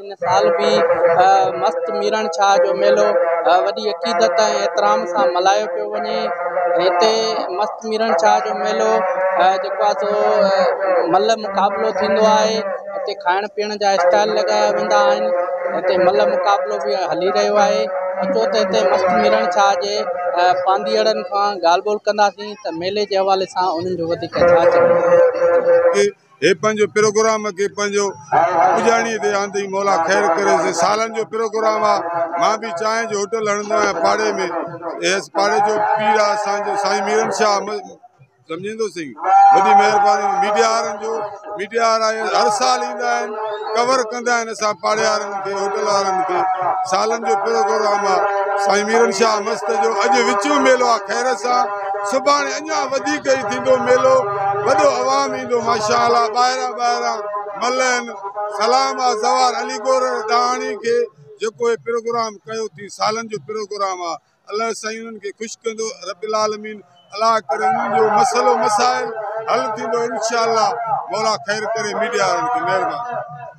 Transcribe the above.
هن سال به مست ميرڻ شاهه جو ميلو وڏي عقيدت ۽ احترام سان ملهايو پيو وڃي هتي مست ميرڻ شاهه جو ميلو جيڪو آهي سو مل مقابلو ٿيندو آهي هتي کائڻ پيئڻ جا اسٽال لڳايا ويندا آهن هتي مل مقابلو به هلي رهيو آهي اچو ته هتي مست ميرڻ شاهه جي پانڌيئڙن کان ڳالهه ٻولهه ڪنداسين ته ميلي جي حوالي سان انهن جو وڌيڪ ڇا چوڻ هي پنهنجو پروگرام کي پنهنجو پڄاڻيء تي آندئي مولا خير ڪريس هي سالن جو پروگرام آ مان به چانهه جو هوٽل هڻندو آهيان پاڙي ۾ هي پاڙي جو پير آ اسان جو سائين ميرن شاهه سمجهندو سين وڏي مهرباني ميڊيا وارن جو ميڊيا وارا هر سال ايندا آهن ڪور ڪندا آهن اسان پاڙي وارن کي هوٽل وارن کي سالن جو پروگرام آ سائين ميرن شاهه مست جو اڄ وچ ۾ ميلو آ خير سان سڀاڻي اڃا وڌيڪ ئي ٿيندو ميلو وڏو عوام ايندو ماشاء الله ٻاهران ٻاهران مل آهن سلام آ زوار علي گور ڏاهاڻي کي جيڪو هي پروگرام ڪيو ٿي سالن جو پروگرام آ الله سائين انهن کي خوش ڪندو رب العالمين الله ڪري انهن جو مسئلو مسائل حل ٿيندو انشاء الله مولا خير ڪري ميڊيا وارن کي مهرباني